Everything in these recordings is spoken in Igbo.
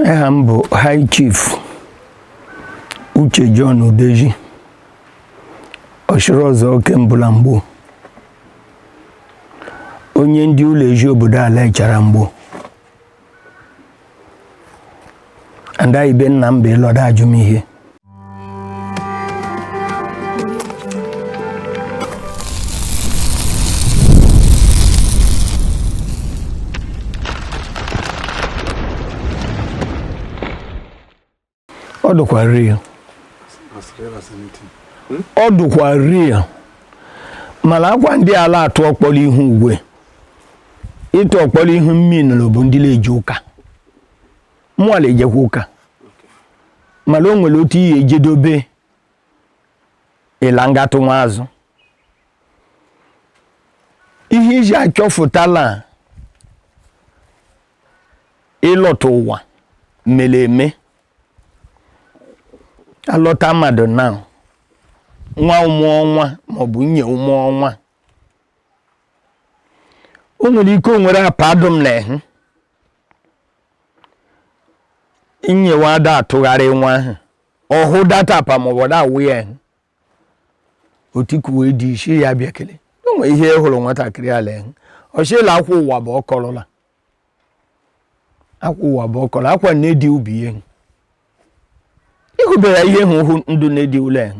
aha m bụ High Chief Uche John Udeji ọchịrị ọzụọ oke mbụ la Mgbo onye ndị ụlọ eji obodo ala Echara Mgbo ada ibe nna m bụ ịlọda ajụ m ihe ọ dụkwa real ọ dụkwa real mala akwa ndị a la atụ ọkpọrọ ihu ugwu ịtụ ọkpọrọ ihu mmiri bụ ndị la-eje ụka mụwa la-ejekwa ụka mala o nwere otu ihe ejedobe ịlangatụ nwa azụ ihe eji achọfụta la ịlọta ụwa mere eme alọta mmadụ na nwa ụmụ ọnwa maọbụ nye ụmụ ọnwa o nwere ike o nwere apa dụ m la ehu inyewa ada atụgharị nwa ahụ ọ hụ that apa maọbụ da awụ ya ehu o tikuwe dị isi ya bịa kele enwe ihe ị hụrụ nwatakịrị ala ahụ ọchịla akwa ụwa bụ ọkọrọla akwa ụwa bụ ọkọrọ akwa na-edi ubi ya ịhụbeghị ihe hụ ndụ na-edi ụlọ ahụ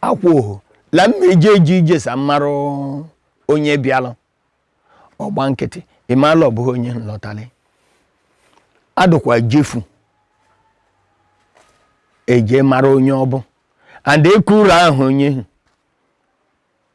akwụohu la mma eji eji ije sa mmarụ onye bịalụ ọgba nkịtị ịmala ọ bụghị onye nlọtalị adụkwa jefu eje mara onye ọ bụ and ekuru aha onye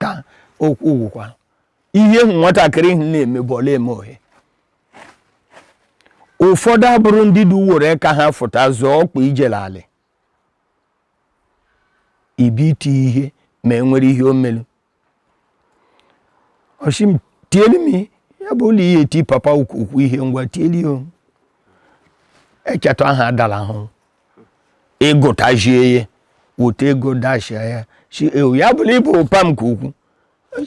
ka okwu gwụkwa ihe nwatakịrị hụ na-eme bụ ọ la-eme ohe ụfọdụ abụrụ ndị dị uwere ka ha fụta zụọ ọkpa ijele alị ibi iti ihe ma e nwere ihe o melu ọ shị m tielu m ya bụ ụlọ ihe ti papa ukwu ihe ngwa tielu ya echeta aha adala ahụ ịgụtajie ya wote ego dashia ya si ewu ya bụla ị bụ ụpa m ka ukwu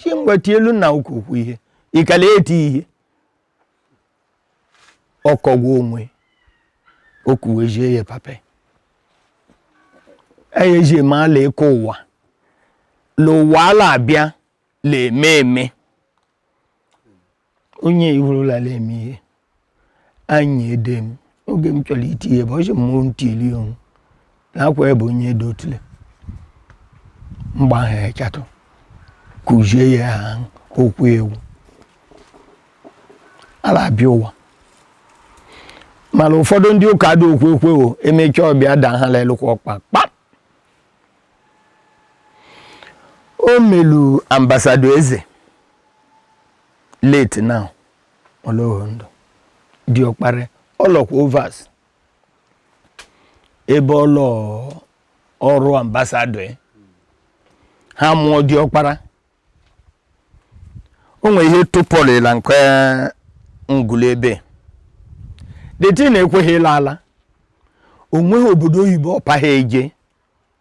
si mgbeti elu na ụka ukwu ihe ikele eti ihe ọkọgwa onwe okuwezie ya papa eyeji ama la ịkọ ụwa la ụwa a la-abịa la eme eme onye iwurulala eme ihe anyị ede m oge m chọrọ iti ihe bụ ọchị mmụọ ntili onwu na akwa ebe onye edo otule mgba ha echatụ kụzie ya ha okwu ewu ala abịa ụwa mana ụfọdụ ndị ụka dị okwu ekwe o emecha ọ bịa da ha lelụkwa ọkpa kpam o melu ambasadọ eze late now ọ lọghọ ndụ diọkpara ọ lọkwa overs ebe ọ lọ ọrụ ambasadọ ya ha mụọ diọkpara o nwere ihe tụpọrịla nke ngụlụ ebe deti na-ekweghị ịla ala o nweghị obodo oyibo ọ paghị ya je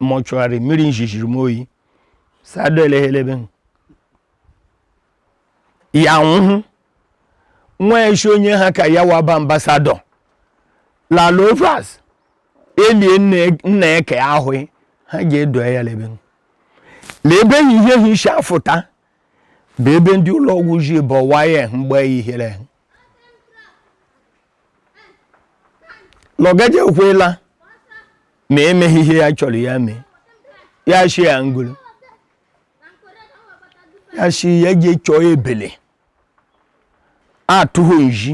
mọchụgharị mmiri njijiri m oyi sado eleghelebe ya nwụhụ nwa eshi onye ha ka ya waba ambasadọ lala overs elie nna eke ahụ ha ga-edo ya l'ebe na ebe yi ihe ha ishi afụta bụ ebe ndị ụlọ ọgwụ ji bọwa ya mgbe ihere lọgaje ekwela ma emeghị ihe ya chọrọ ya mee ya shi ya ngolo ya shi ya je chọọ ebele atụghị nji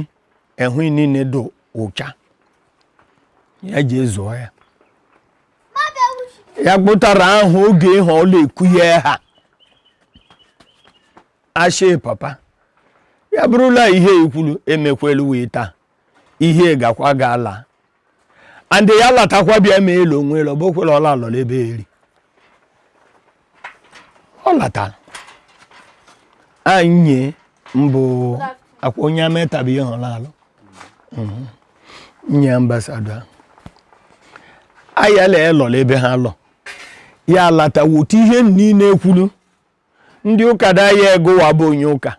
ehụ niile dị ụcha ya je zụọ ya ya kpụtara ahụ oge ahụ ọ la-ekwu ya ha ashị papa ya bụrụ la ihe i kwulu emekwelu wee taa ihe gakwa ga-ala and ya latakwa bịa ma elu onwe elu ọbụkwere ọ la-alọ l'ebe eri ọ latara anyị mbụ akwa onye ametabi ihe ọ la-alọ nwunye ambasadọ ayala alọ la ebe ha lọ ya lata wotu ihe niile e kwulu ndị ụka daya egowa bụ onye ụka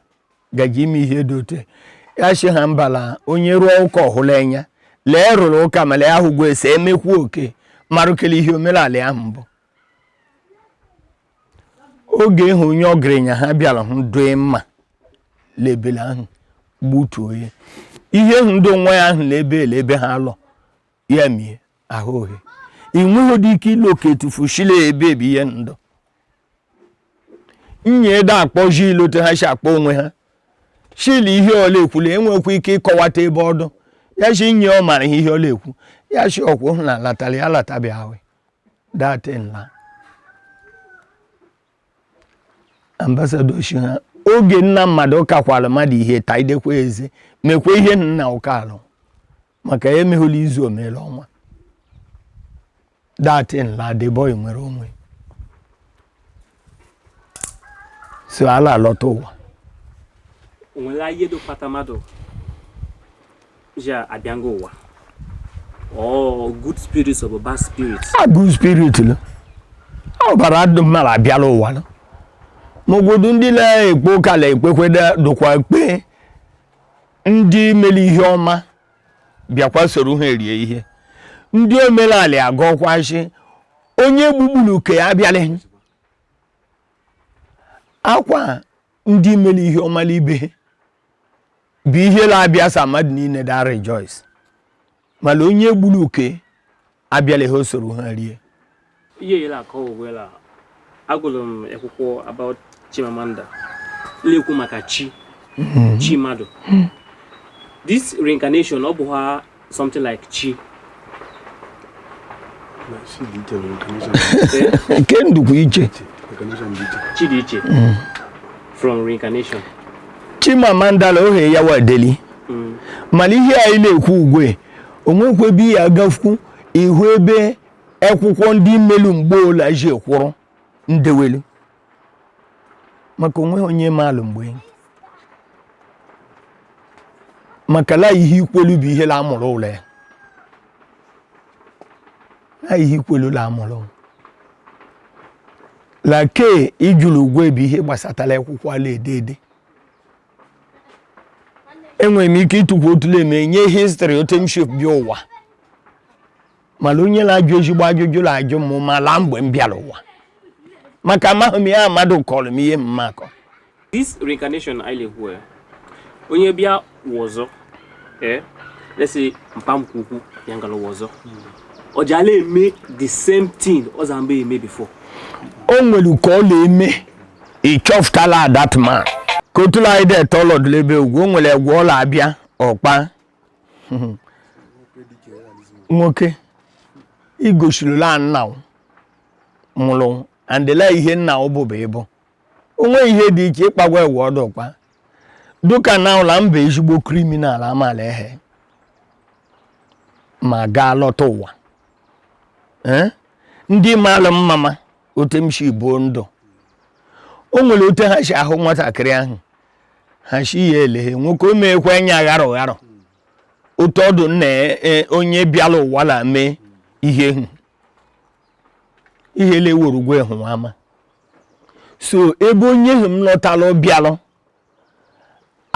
ga-eji eme ihe dị otu ya shị ha mba la onye rụọ ụka ọhụrụ anya lee rụrụ ụka ma lee ahụgwọ ese emekwu oke marụkele ihe omenala ahụ bụ oge ahụ onye ọgaranya ha bịara hụ doe mma l'ebele ahụ gbutuo ya ihe ahụ dị nwa ya ahụ lebe ele ebe ha lọ ya mie ahụ ohe ị nweghị dị ike ịlụ oke etufu shi l'ebe ebi ihe ndụ nye ede akpọ jil otu ha si akpọ onwe ha shil ihe ọ la-ekwu la e nwekwa ike ịkọwata ebe ọ dụ ya shi nye ọ mara ihe ọ la-ekwu ya shi ọkwụ na latara ya latabi ahụ that thing la ambassador shi ha oge nna mmadụ kakwara mmadụ ihe taidekwa eze mekwa ihe nna ụka alụ maka ya emeghụla izu o mere ọnwa that thing la the boy nwere onwe so a la-alọta ụwa o nwere ihe da akpata mmadụ ji abịago ụwa Oh, good spirits or bad spirits? Ah, good spirit. Lo. Ọ ọbara dụ mma la-abịa la ụwa nọ. Ma ọ godu ndị la-ekpe ụka la-ekpekwedụkwa ekpe ndị mere ihe ọma bịakwa soro ha erie ihe ndị omenala agọkwa shi onye gbugburu uke ya abịala akwa ndị mere ihe ọma ibe bụ ihe la-abịa so mmadụ niile da rejoice mana onye gburu uke abịala ha o soro ha rie ihe yere aka owela agụrụ m akwụkwọ about Chimamanda la-ekwu maka chi hmm. chi mmadụ hmm. this reincarnation ọ bụ ha something like chi nke n dụkwu iche chi dị iche hmm. from reincarnation Chimamanda la ohe ya wa deli mm. mana ihe anyị na-ekwu ugwe o nwekwa ebe ya agafukwu ịhụ ebe akwụkwọ ndị mmelu mgbe ole ji ekwụrụ ndewelu maka onwe onye maalụ mgbe maka la ihe i kwelu bụ ihe la amụrụ ụlọ ya la ihe i kwelu la amụrụ ụlọ la ke ị jụlụ ugwe bụ ihe gbasatara akwụkwọ a la-ede ede enwere m ike ịtukwu otu le m enye history otu m si bịa ụwa mana onye na-ajụ ezigbo ajụjụ na-ajụ m ma la mgbe m bịara ụwa maka amaghị m ya mmadụ kọrọ m ihe mm maka this reincarnation anyị na-ekwu ya onye bịa ụwa ọzọ ee let's say mpa m ke ukwu ya ga-alọ ụwa ọzọ ọ ja la-eme the same thing ọ za mgbe eme before o nwere ka ọ na-eme ị chọfụta la that man ka otu la anyị dị ete ọ lọdụ la ebe egwu o nwere egwu ọ la-abịa ọkpa nwoke igosiri la nna ọ nwụrụ and la ihe nna ọ bụbu ịbụ onwe ihe dị iche ịkpagwa egwu ọdụ ọkpa dụka na ụla mba ezigbo criminal amaala ehe ma ga-alọta ụwa ndị mara mma otu m si buo ndụ o nwere otu ha si ahụ nwatakịrị ahụ ha si ya eleghe nwoke o meekwa anya gharọ gharọ otu ọ dụ nna e, onye bịala ụwa la mee ihe hụ ihe leworo gwa hụ ama so ebe onye hụ m lọtara bịalụ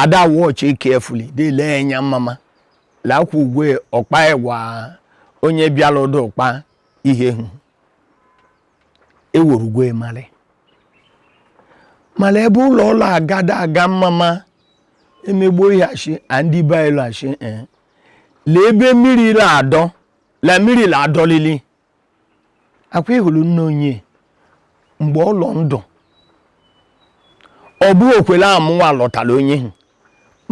ada watch carefully dele anya mama lakwa ugwe ọ kpa agwa onye bịala ụdọ ọ kpa ihe hụ eworugwo ịmarị mana ebe ụlọ ụlọ agada aga mmama emegbuo ihe achị andị be anyị lọghachi ee lee ebe mmiri la adọ la mmiri la adọlili akwa ịhụrụ nne onye mgbe ọ lọ ndụ ọ bụ okwere amụwa lọtara onye ahụ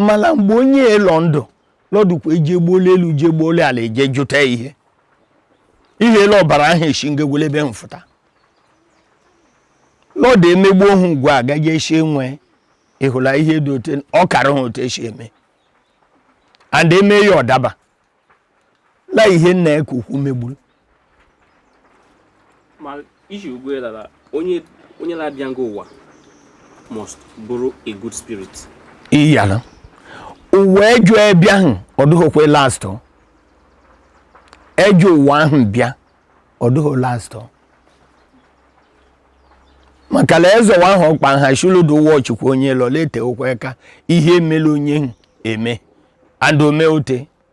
mala mgbe onye lọ ndụ lọdụkwa eje gbuola elu je gbuola ala eje jụta ihe ihe ele ọbara ahụ esi ngegwele ebe mfụta lọdụ emegbu ohu ugwu a gaje esi enwe ịhụla ihe dị ote ọ kara ha otu esi eme and eme ya ọ daba la ihe nna ya ka ukwu megburu ma iji ugwe lara onye onye na-abịa nga ụwa must bụrụ a good spirit iyala ụwa ejo ebịa ahụ ọ dịghịkwa last o. ejo ụwa ahụ bịa ọ dịghị last o. maka la ezi ụwa ahụ ọ kpa ha shuludo watchkwa onye lọ lete ụkwa aka ihe emela onye ahụ eme and o me ote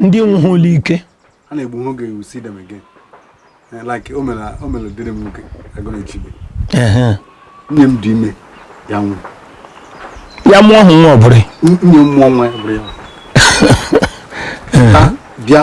ndị nwụhụla ike a na-egbu ha oge you see them again eh, like o mere o mere dịrị m nwoke agụrụ echibe nne m dị ime ya nwụ ya mụọ hụ nwa ọ bụrụ nne m mụọ nwa ya bụrụ ya bịa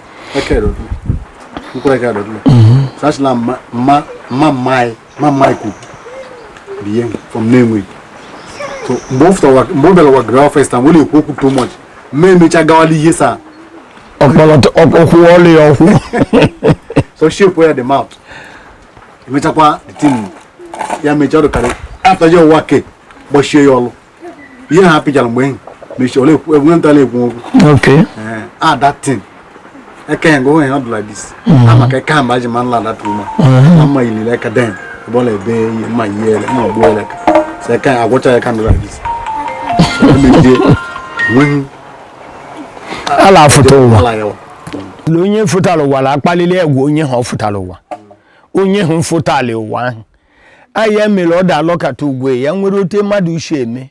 mgbe ọ bịara ụwa gara first wee na-ekwu okwu too much ma emecha gawala ihe saa ọkwụ ọlụ ya ọkwụ so shape ya the mouth emechakwa the thing ya mecha ọ dụkarị after ya ụwa ke gbachie ya ọlụ ihe ha pịchara mgbe enyi mechi ole enwe ntala ekwu okwu a that thing eke ya ngwa onye ọ dụ like this a maka eke ha mba ji ma nla that woman na mma ilile aka den ebe ọ na-ebe ihe mma ihe ele mma ogbu ele ka sị eke ya agwụcha ya ka ọ dụ like this emejie nweghị ala afụta ụwa ala ya wa na onye fụtara ụwa la akpalili agwa onye hụ ọ fụtara ụwa onye hụ fụtara ụwa ahụ aya mere ọ da-alọkata ugwe ya nwere ote mmadụ shi eme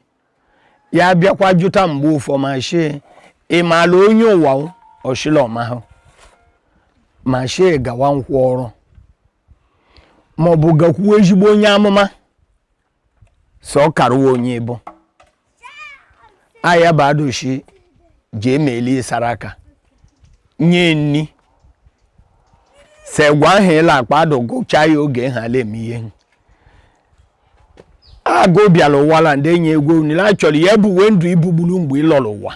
ya bịakwa jụta mgbe ụfọ ma shi ị maala onye ụwa ọ shi la ọ mahụ ma shi gawa nkwụ ọrụ maọbụ gakwuo ezigbo onye amụma sọ karụwa onye ị bụ aya bụ adoshi ji emeli sara aka nye nni segwa ahụ ị la akpa adụ gọchaa ya oge ha la eme ihe agụ bịara ụwa la ndị enyi egwu nile a chọrọ ya ebuwe ndụ i buburu mgbe ị lọrọ ụwa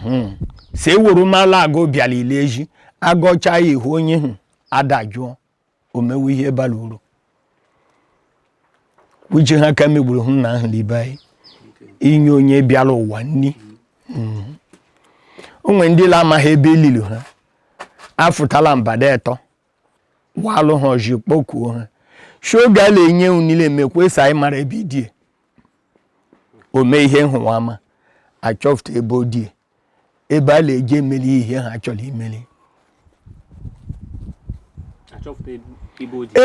hmm. si ewuru mala agụ bịara ile eji agọcha ya ihu onye hụ adajụọ o mewe ihe bara uru uche ha ka megburu hụ na ahụ n'ibe anyị inye onye bịara ụwa nri hmm. o nwere ndị la amaghị ebe elili ha afụtala mbada etọ walụ ha ọjị kpokuo ha shoga la enye unile emekwa si anyị mara ebe idie o mee ihe nhụwa ama achọfụta ebe odie ebe a na-eji emeli ihe ha chọrọ imeli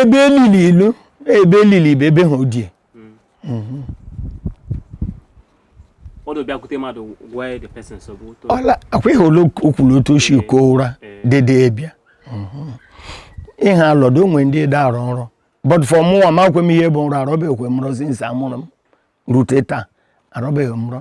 ebe elili ilu ebe elili bụ ebe ha odie hmm. akwa ihe ole o kwuru otu o si ko ụra dede bịa hmm. ihe alọdụ o nwe ndị da-arọ nrọ but for mụnwa amakwe m ihe bụ nrọ arọbeghị m nrọ since a mụrụ m rute taa arọbeghị m nrọ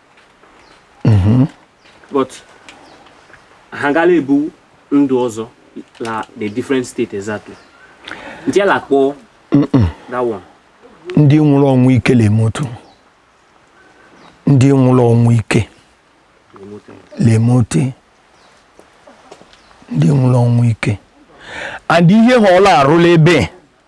mm-hmm. but ha ga la ebu ndụ ọzọ la the different state exactly ndị a la akpọ that one ndị nwụrụ ọnwụ ike na-eme otu ndị nwụrụ ọnwụ ike na-eme otu ndị nwụrụ ọnwụ ike and ihe ha ọ la arụ la ebe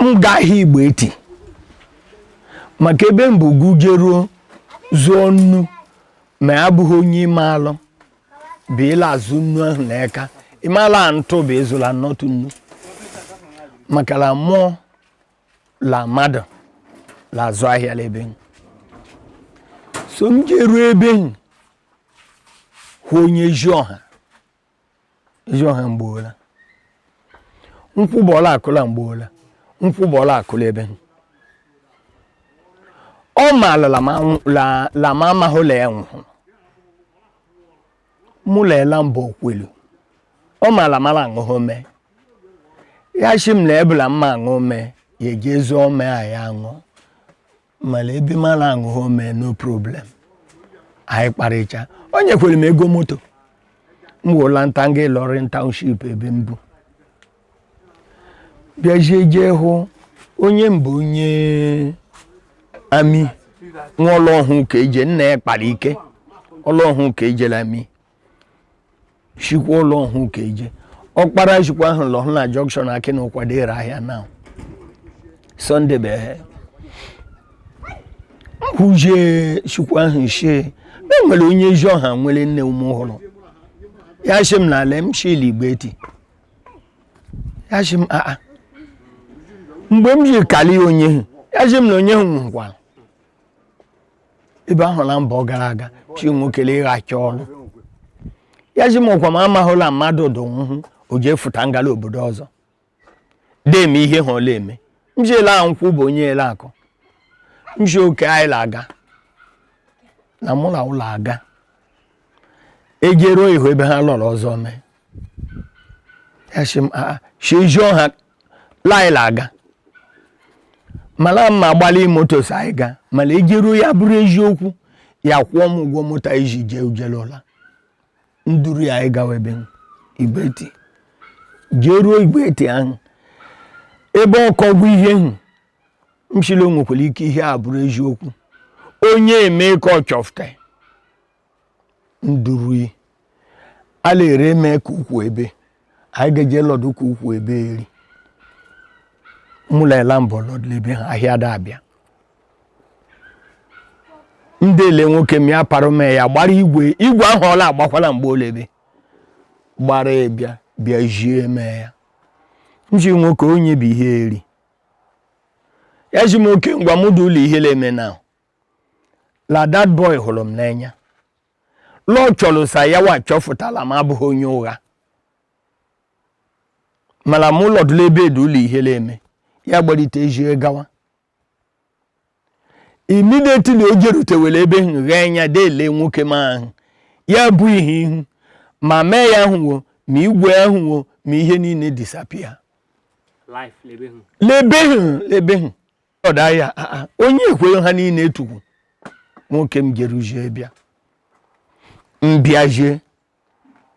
m gaa ahịa igbo eti maka ebe m bu gụ jeruo zụọ nnu ma ya bụghị onye ime alụ bụ ị la azụ nnu ahụ na eka ị maa la ntụ bụ ịzụla nnọtụ nnu maka la mụọ la mmadụ la azụ ahịa la ebe m so m jeruo ebe m hụ onye ji ọha ezi ọha mgboola nkwụ bụ ọla akụla mgboola nkwụ bụ ọla akụla ebe ọ maala lama amahụ la ya nwụhụrụ mụ leela mbọ okwelu ọ maala mara aṅụhụ mee ya shi m la ebula mma aṅụ mee ya eji ezi ome a ya aṅụ mala ebe mara aṅụghọ mee no problem anyị kparịcha o nyekwere m ego moto m wụla nta nga Ilorin township ebe m bu bịazie jee hụ onye mbụ onye ami nwa Ọlọhun keje nne ya kpara ike Ọlọhun keje la ami shikwa Ọlọhun keje ọkpara shikwa ahụ lọhụ na junction akị na ụkwado ere ahịa na Sunday bụ ehe kwuje shikwa ahụ shie na e nwere onye ezi ọha nwere nne ume ọhụrụ ya shi m n'ala m shi l'Igbeti ya shi m aa mgbe m ji kali onye hụ ya shi m na onye hụ nọkwa ebe ahụ na mbọ gara aga shi nwokele ịghachi ọrụ ya shi m ọkwa m amahụla mmadụ dụ nhụ o jefuta ngala obodo ọzọ deme ihe hụ ọ la-eme m shi ele ahụ nkwụ bụ onye ele akụ m shi okay anyị la-aga na mụ na ụlọ aga e jeruo ihu ebe ha lọrọ ọzọ mee ya shi m shi jụọ ha la anyị la-aga mala ma agbalị moto so anyị ga mala e jeruo ya bụrụ eziokwu ya kwụọ m ụgwọ moto anyị ji jee ujelụla nduru ya anyị gawa ebe Igbeti jeruo Igbeti ahụ ebe ọkọgwụ ihe hụ m shi la ọ nwekwara ike ihe a bụrụ eziokwu onye eme ka ọ chọfụta ndurui ala ere eme ka ukwu ebe anyị ga-eje lọdụ ka ukwu ebe eri mụla ela mbọ lọdụla ebe ha ahịa da abịa m dele nwoke m ya parụ m ya gbara igwe ahụ ọ la-agbakwala mgbe ole ebe gbara ya bịa bịa jie mee ya m shi nwoke onye bụ ihe eri ya shi m okay ngwa mụ dị ụlọ ihe la-eme na la that boy hụrụ m n'anya la ọ chọrọ sa yawa chọfụtala m abụghị onye ụgha mala m lọdụla ebe edu ụlọ ihe la-eme ya gbalite ejie gawa immediately o jerutewere ebe ahụ ghee anya dele nwoke m ahụ ya bụ ihe hụ ma mee ya ahụwo ma igwe ahụwo ma ihe niile disappear life l'ebe hụ l'ebe hụ ọda ya ah, ah, onye ekwere ha niile etukwu nwoke m jeruzie bịa mbịazie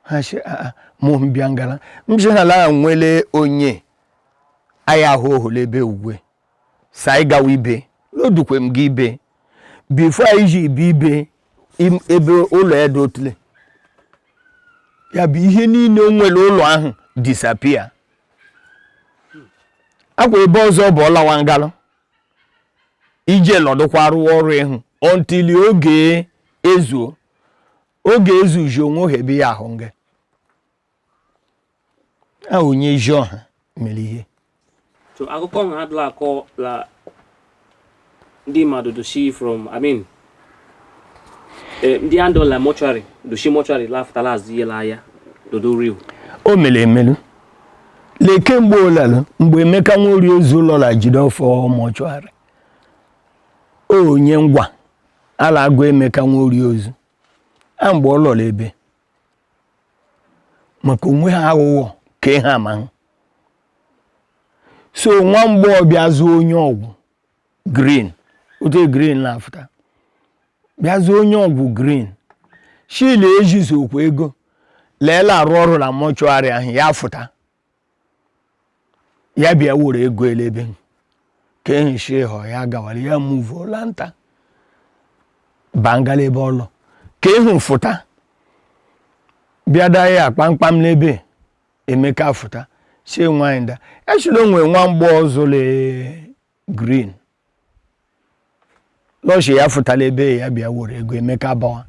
ha shi ah, mụ mbịa ngala m shi ha la e nwere onye anyị ahụ ohole ebe ugwe sa anyị gawa ibe lodukwe m gị ibe before anyị ji ibe ibe ebe ụlọ ya dị otule ya bụ ihe niile o nwere ụlọ ahụ disappear akwa ebe ọzọ bụ ọlawa ngalụ ije nọdụkwa rụwa ọrụ ịhụ until oge ezuo oge ezuji onwe ohe ebe ya ahụ nga a onye ezi ọha mere ihe so akụkọ ọha adịla akọ la ndị mmadụ dushi from i mean eh, ndị a ndọ la mortuary dushi mortuary la afụtala azụ ihe la ya dodo real o mere emelu lee kemgbe olalụ mgbe emeka nworie ozu lọ la jide ọfọ mortuary onye ngwa a la agụ emeka nworie ozu a mgbe ọ lọrọ ebe maka onwe ha aghụghọ ka ihe ama ha so nwa mgbọ bịa zụọ onye ọgwụ green otu green na-afụta bịa zụọ onye ọgwụ green shi le ejizi okwu ego le e la arụ ọrụ la mortuary ahụ ya fụta ya bịa were ego elebe ka ehichi ịhọ ya gawara ya muvuo lanta bangala ebe ọ lọ ka ịhụ fụta bịa daa ya kpamkpam n'ebe emeka fụta si nwaanyị da echila onwe nwa mgbọ ọzọ le green lọshi ya fụtala ebe ya bịa were ego emeka bawa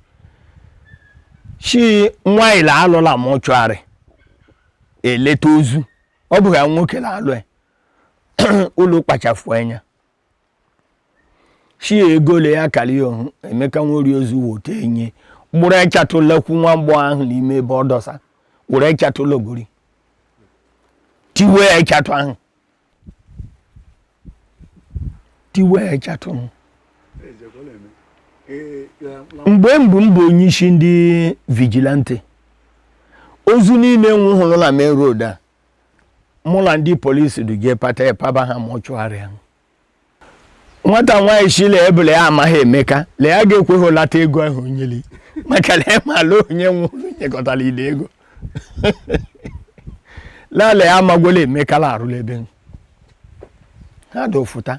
shi nwaanyị la alọ la mortuary eleta ozu ọ bụghị nwoke la alụ ya ụlọ kpachafụ anya shi ego le ya kali ohun emeka nworie ozu wote enye gburu echatụla kwu nwa mgbọ ahụ n'ime ebe ọ dọsa were echatụ logori tiwe echatụ ahụ tiwe echatụ ahụ mgbe mbụ m bụ onye isi ndị vigilante ozu niile nwụhụrụ la main road a mụ la ndị polisi duje pata epaba ha mortuary ahụ nwata nwaanyị shi le ebule ya amaghị emeka le ya ga-ekweghị lata ego ahụ o nyeli maka na ya maala onye nwụrụ nyekọtara ile ego lale ya amagwela emeka la arụ la ebe ha dofụta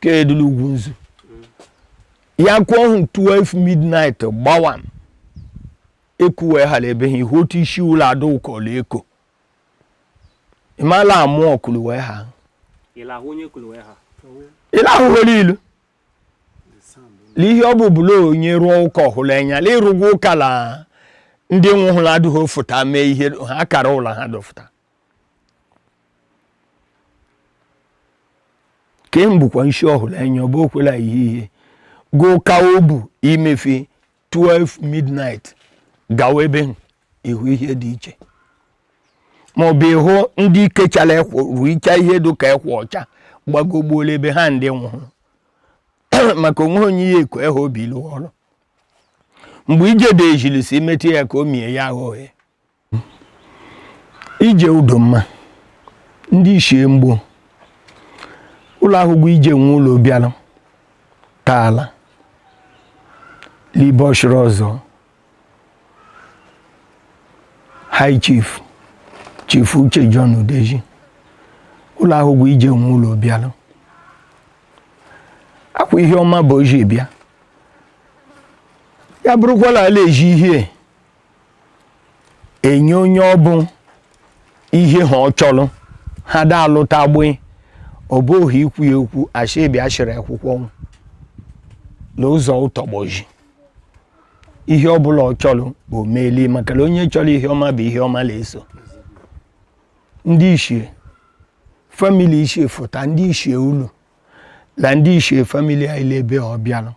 ka edula ugwu nzu ya kụọ ọhụ 12 midnight gbawa ekuwe ha la ebe ha ihu otu isi ụlọ ada ụkọlụ eko ịmala amụ ọkụlụwe ha ịlahụ nwere ilu n'ihe ọ bụ bụla onye rụọ ụka ọ hụrụ anya la ịrụgwa ụka la ndị nwụhụrụ adịghị afụta mee ihe ha kara ụlọ ha dọfụta ka e mbụkwa nshi ọhụrụ anya ọ bụ okwela ihe ihe gụ ka o bụ imefe 12 midnight gawa ebe ahụ, ịhụ ihe dị iche ma ọ bụ ịhụ ndị kechara ekwo ruicha ihe dị ka ekwa ọcha gbagogbuola ebe ha ndị nwụrụ maka onwe onye ihe eko ehe obi ilu ọrụ mgbe ijede ejilisi metụ ya ka o mie ya aghọghị ije Udoma ndị ichie Mgbo ụlọ ahụgwo ije nwe ụlọ bịara taala libe Ọchịrịọzụọ high chief chief uche john udeji ụlọ ahụgwo ije nwe ụlọ bịara akwa ihe ọma bụ o ji bịa ya bụrụkwala ala eji ihe enye onye ọ bụ ihe ha ọ chọrọ ha da alụta gbee ọ bụ ohu ikwu ya okwu asị ebi asịrị akwụkwọ nwụ na ụzọ ụtọgbọji ihe ọ bụla ọ chọrọ o meeli maka na onye chọrọ ihe ọma bụ ihe ọma na-eso ndị ichie famili ichie fụta ndị ichie ulu na ndị ichie famili anyị lebe ọ bịara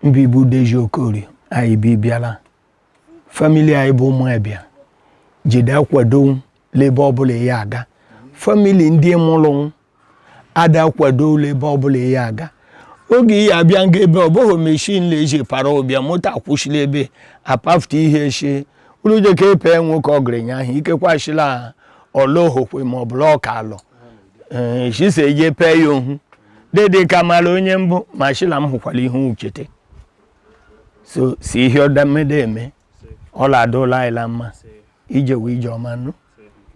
n'ibe Udeji Okorie anyị bi bịara famili anyị bụ ụmụ ebia jide akwado lebe ọbụla ya aga famili ndị mụrụ ada akwado lebe ọbụla ya aga oge ya abịa nga ebe ọ bụghị meshin leji para ụbịa moto akwụsịla ebe apafụta ihe echi ụlọjeka epe nwoke ọgaranya ahụ ikekwa achịla ọlọhokwe ma ọ bụla ọka alọ ee chisa eje pee ya ohu dede ka mara onye m bụ ma shila m hụkwara ihe uchete so si ihe ọdamede eme ọla adụla ayịla mma ije wee ije ọma nụ